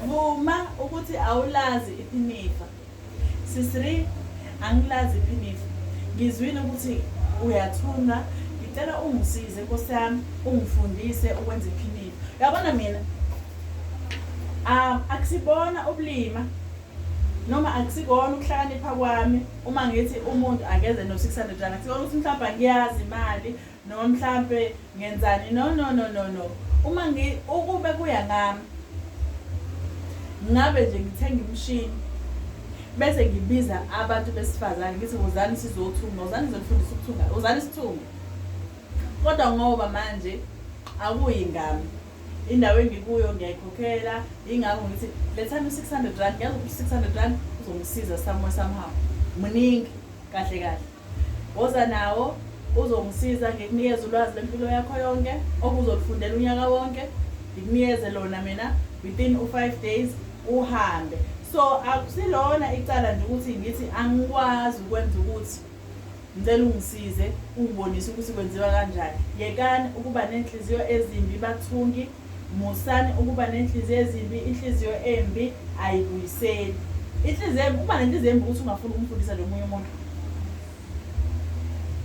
vuma ukuthi awulazi iphinifa sisri angilazi iphinifa ngizwile ukuthi uyathunwa ngicela ungisize nkosi yami ungifundise ukwenza iphinifa uyabona mina um akusibona ubulima noma akusikona ukuhlakanipha kwami uma ngithi umuntu akeze no-600 rand akusibona ukuthi mhlawumbe angiyazi imali Noma mhlampe ngenzani no no no no no uma ngi ukube kuya ngami ngabe nje ngithenga imshini bese ngibiza abantu besifazane ngithi wozani sizothunga wozani ngizonifundisa ukuthunga wozani sithunge kodwa ngoba manje akuyi ngami indawo engikuyo ngiyayikhokhela ingakho ngithi lethani u-600 rand ngiyazi ukuthi u-600 rand uzongisiza somewhere somehow muningi kahle kahle Woza nawo, uzongisiza ngikunikeze ulwazi lwempilo yakho yonke obuzolufundela unyaka wonke, ngikunikeze lona mina within u five days uhambe. So akusilona icala nje ukuthi ngithi angikwazi ukwenza ukuthi ngicela ungisize ungibonise ukuthi kwenziwa kanjani. Yekani ukuba nenhliziyo ezimbi bathungi. Musani ukuba nenhliziyo ezimbi, inhliziyo embi ayibuyiseli. Inhliziyo embi, ukuba nenhliziyo embi ukuthi ungafuni ukumfundisa nje omunye umuntu.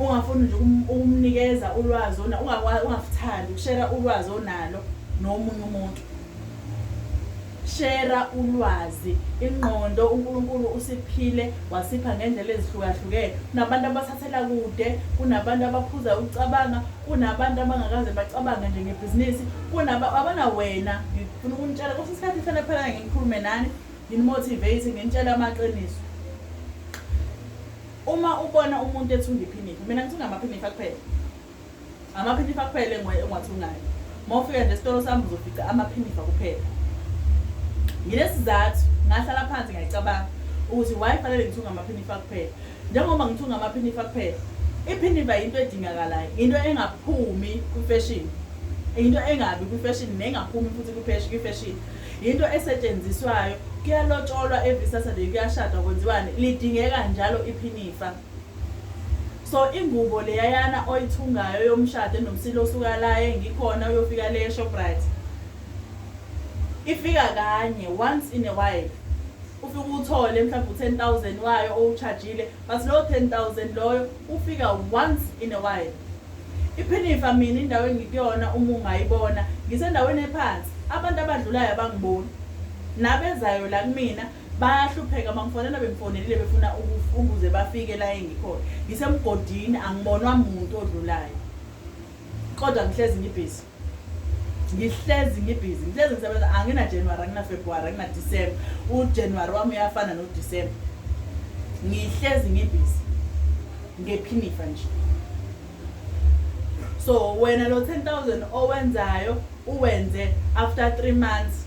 Ungafuni nje ukumnikeza ulwazi ona ungakuthandi ukushera ulwazi onalo nomunye umuntu. Shera ulwazi, ingqondo uNkulunkulu usiphile wasipha ngendlela ezihlukahlukene. Kunabantu abathathela kude, kunabantu abaphuza ukucabanga, kunabantu abangakaze bacabange nje ngebhizinisi, kunaba abana wena ngifuna ukunitshela kwesinye isikhathi ngifana phela nginikhulume nani, nginimotivate, nginitshele amaqiniso. Uma ubona umuntu ethunga iphinifa, mina ngithunga amaphinifa kuphela. Amaphinifa kuphela engiwathunayo. Mawufika nje esitolo sami uzofica amaphinifa kuphela. Ngilesizathu ngahlala phansi ngayicabanga ukuthi why fanele ngithunga amaphinifa kuphela. Njengoba ngithunga amaphinifa kuphela, iphinifa yinto edingakalayo, into engaphumi kwi-fashion. Into engabi kwi-fashion nengaphumi futhi kwi-fashion. Into esetshenziswayo kuyalotsholwa every Saturday kuyashadwa kwenziwani lidingeka njalo iphinifa. So ingubo leyayana oyithungayo yomshado enomsila osuka la engikhona uyofika le Shoprite. Ifika kanye once in a while. Ufika uthole mhlawumbe u10000 wayo owuchajile but lo 10000 loyo ufika once in a while. Iphinifa mina indawo engikuyona uma ungayibona ngisendaweni ephansi abantu abadlulayo abangiboni nabezayo la kumina bayahlupheka bangifonela bengifonelile befuna ukuze bafike la engikhona ngisemgodini angibonwa muntu odlulayo kodwa ngihlezi ngibhizi ngihlezi ngibhizi ngihlezi ngisebenza anginajanuwari anginafebruwari anginadisemba ujanuwari wami uyafana nodisemba ngihlezi ngibhizi ngephinifa nje so wena lo 10000 owenzayo uwenze after three months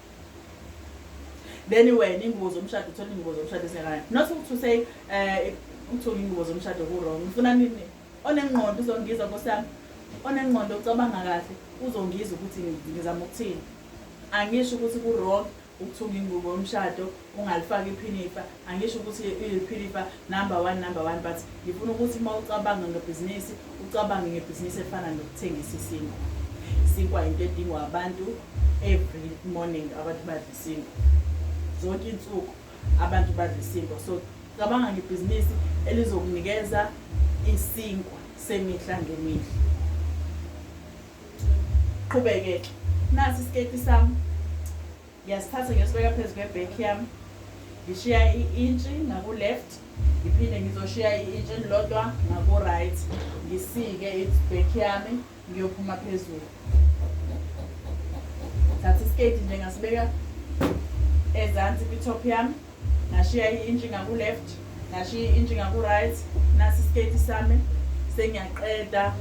then wena ingubo zomshado uthola ingubo zomshado esingakana not ukuthi usay um eh, uthola ingubo zomshado ku-wrong ngifuna nini onengqondo uzongizwa nkosi yami onengqondo ucabanga kahle uzongizwa ukuthi ngizama ukuthini angisho ukuthi ku-wrong ukuthunga ingubo yomshado ungalifaki iphinifa angisho ukuthi iphinifa number one number one but ngifuna ukuthi uma ucabanga ngebhizinisi ucabange ngebhizinisi efana nokuthengisa isinkwa isinkwa yinto edingwa abantu every morning abantu badla isinkwa zonke insuku abantu badla isinkwa so cabanga ngebhizinisi elizokunikeza isinkwa semihla ngemihla qhubeke nasi isiketi sami Ngiyasithatha ngiyosibeka phezu kwebhekhi yami ngishiya i-intshi ngaku-left ngiphinde ngizoshiya i-intshi elilodwa ngaku-right ngisike ibhekhi yami ngiyophuma phezulu thatha isiketi nje ngasibeka ezansi kwithop yami Ngashiya i inch ngaku left, ngashiya i inch ngaku right, nasi isketi sami sengiyaqeda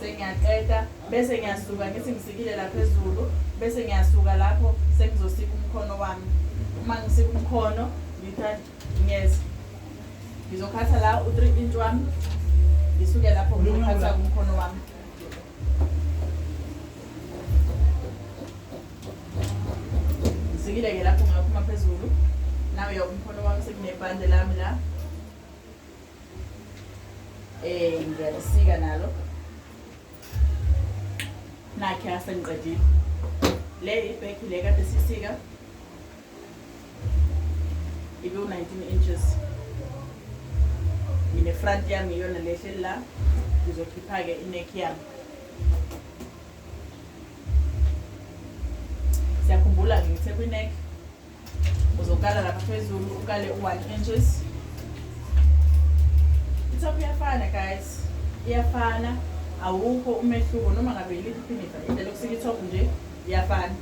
sengiyaqeda bese ngiyasuka ngithi ngisikile la phezulu bese ngiyasuka lapho sengizosika umkhono wami uma ngisika umkhono ngithatha ngiyeza ngizokhatha la u-3 inch wami ngisuke lapho ngizokhatha umkhono wami Zikile ke lapho ngaphuma phezulu. Nawe ya umkhono wami sekunebhande lami la. Eh ngiyalisika nalo. Nakhe asengiqedile. Le ibheki le kade sisika. Ibe 19 inches. Mina front yami iyona lehle la. Ngizokhipha ke ineck yami. siyakhumbula ke ngithe kwi-neck uzokala lapha phezulu ukale u-one inches itop iyafana guys iyafana awukho umehluko noma ngabe yiliphi iphinifa indlela yokusika itop nje iyafana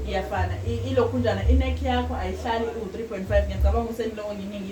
iyafana ilokhunjana i-neck yakho ayihlali iwu-3 point five ngiyacabanga ukuthi eniloko nginingi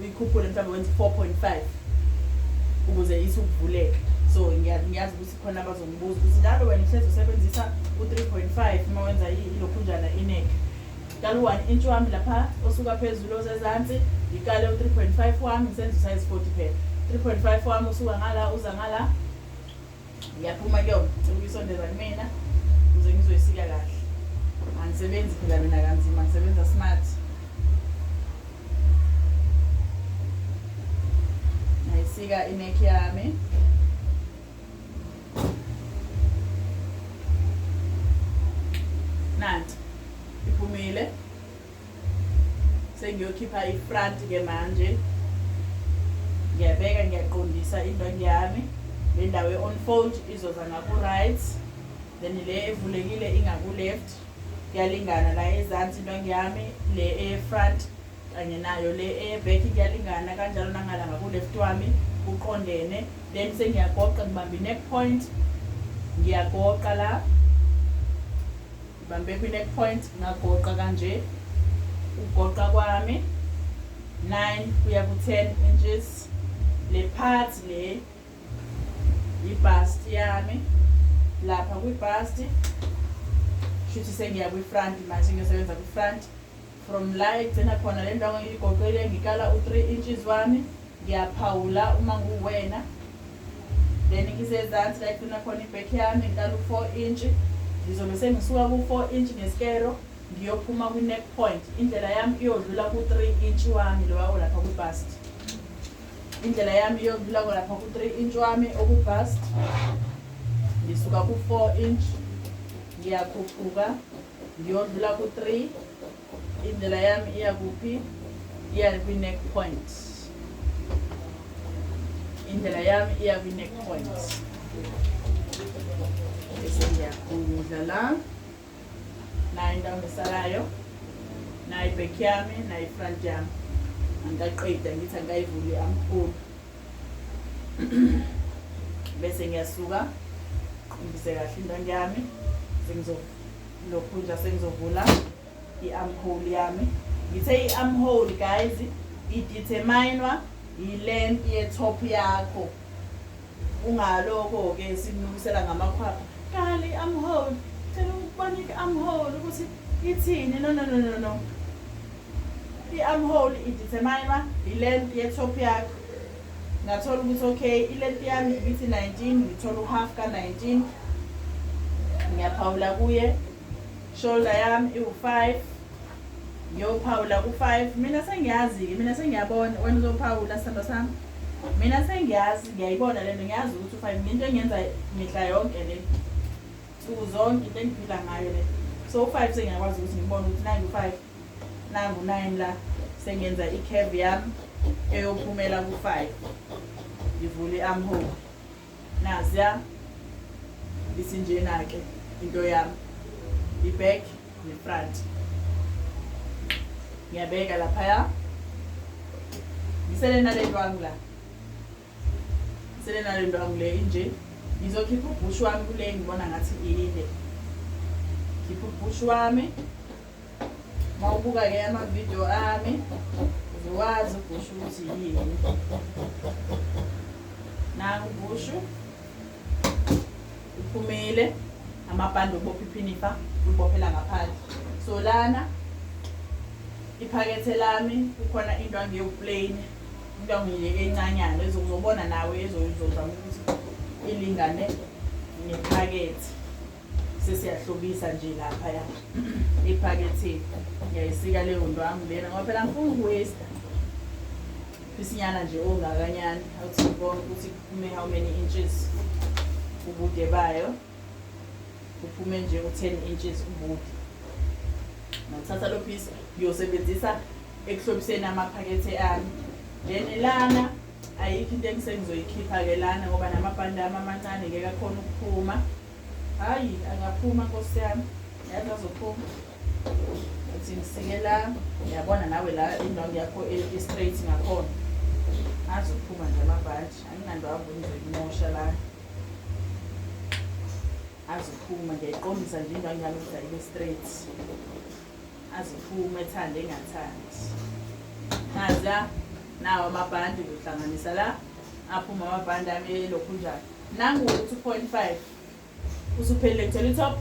uyikhuphule mhlawumbe wenze 4.5 ukuze isi ukuvuleka so ngiyazi ukuthi khona abazongibuza ukuthi njalo wena uhlezi usebenzisa u-3.5 uma wenza ilokhunjana ineke kala u-one inch wami lapha osuka phezulu osezansi ngikale u-3.5 wami ngisenza usayizi 40 phela 3.5 wami usuka ngala uza ngala ngiyaphuma kuyona cela uyisondeza kumina ukuze ngizoyisika kahle angisebenzi phela mina kanzima ngisebenza smart ngayisika ineck yami nanti iphumile sengiyokhipha ifront ke manje ngiyabeka ngiyaqondisa indwangu yami le ndawo e-onfold izoza ngaku-right then le evulekile ingaku-left kuyalingana la ezansi indwangu yami le eye-front kanye nayo le eye-back kuyalingana kanjalo nangala ngaku-left wami kuqondene then sengiyagoqa ngibambe i-neck point ngiyagoqa la Ngibambe kwi neck point ngagoqa kanje ukugoqa kwami 9 kuya ku 10 inches le part le ibust yami lapha kwi bust shuthi sengiya kwi front manje ngiyosebenza kwi front From la egcina khona le ndwangu iyigoqile ngikala u 3 inches wami ngiyaphawula uma nguwena then ngisezansi la egcina khona ibek yami ngikala u 4 inch ngizobe sengisuka ku 4 inch ngeskero ngiyophuma kwi neck point indlela yami iyodlula ku 3 inch wami lowa olapha ku bust indlela yami iyodlula kolapha ku 3 inch wami oku bust ngisuka ku 4 inch ngiyakhuphuka Ngiyodlula ku 3. Indlela yami iya kuphi? Iya kwi neck point. Indlela yami iya kwi neck point. Bese ngiyagudla la. Nayi indawo ngisalayo. Nayi back yami, nayi front yami. Angikaqeda ngithi angikayivuli amkhulu. bese ngiyasuka ngize kahle indwangu yami sengizo lokhu nje sengizovula i-amhole yami ngithe i-amhole guys ideterminwa yi-length ye-top yakho ungalokho-ke simnukisela ngamakhwapha kali i-amhole cela ukubona i-amhole ukuthi ithini no no no no no i-amhole ideterminwa yi-length ye-top yakho ngathola ukuthi okay ilenti yami ibithi 19 ngithola uhalf ka-19 ngiyaphawula kuye shoulder yami iwu-5 ngiyophawula ku-5 mina sengiyazi-ke mina sengiyabona wena uzophawula sithando sami mina sengiyazi ngiyayibona le nto ngiyazi ukuthi u-5 ngento engiyenza mihla yonke le nsuku zonke into engiphila ngayo le so u-5 sengiyakwazi ukuthi ngibone ukuthi nangu-5 nangu 9 la sengenza i-curve yami eyophumela ku-5 ngivule i-armhole naziya isinjena-ke into yami i-back ne-front ngiyabeka laphaya ngisele nalentwami la Sele nale ndwangu le inje. Ngizokhipha ubhushu wami kule ngibona ngathi inde. Khipha ubhushu wami. Mawubuka-ke ama-video ami uzowazi ubhushu ukuthi yini. Nangu ubhushu uphumile amabhande obopha iphinifa ubophela ngaphandle. So lana iphakethe lami kukhona into angiyoplane Intombi le encanyana ezokuzobona nawe ezozozama ukuthi ilingane nephakethe sesiyahlobisa nje lapha ya ephaketheni ngiyayisika leyo nto wami lena ngoba phela ngifuna ukuwesta isinyana nje ongakanyana awuthi konke ukuthi kume how many inches ubude bayo kuphume nje u-ten inches ubude ngithatha lo piece ngiyosebenzisa ekuhlobiseni amaphakethe ami then lana ayikho into engisengizoyikhipha-ke lana ngoba namabhande ami amancane ngeke akhona ukuphuma hhayi angaphuma nkosi yami yazi azophuma uthi ngisike la uyabona nawe la indawo yakho i-straight ngakhona azophuma nje amabhadi anginandawo ngizoyimosha lana azophuma ngiyayiqondisa nje into angiyazi ukuthi ayibe straight azophuma ethande engathandi naza nawo amabhandi kuhlanganisa la aphuma amabhandi ami elokhu njalo nangu ukuthi u-point five usuphelile ngithola itop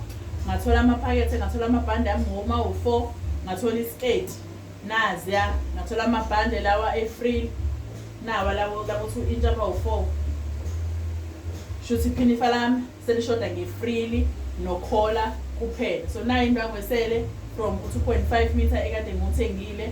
ngathola amaphakethe ngathola amabhandi ami ngoma u-four ngathola isiketi Naziya ngathola amabhande lawa e-free nawa lawo lakuthi u-intsha bawu-four shuthi iphinifa lami selishoda nge-freely nokhola kuphela so nayo into yangoesele from u-two point five meter ekade ngiwuthengile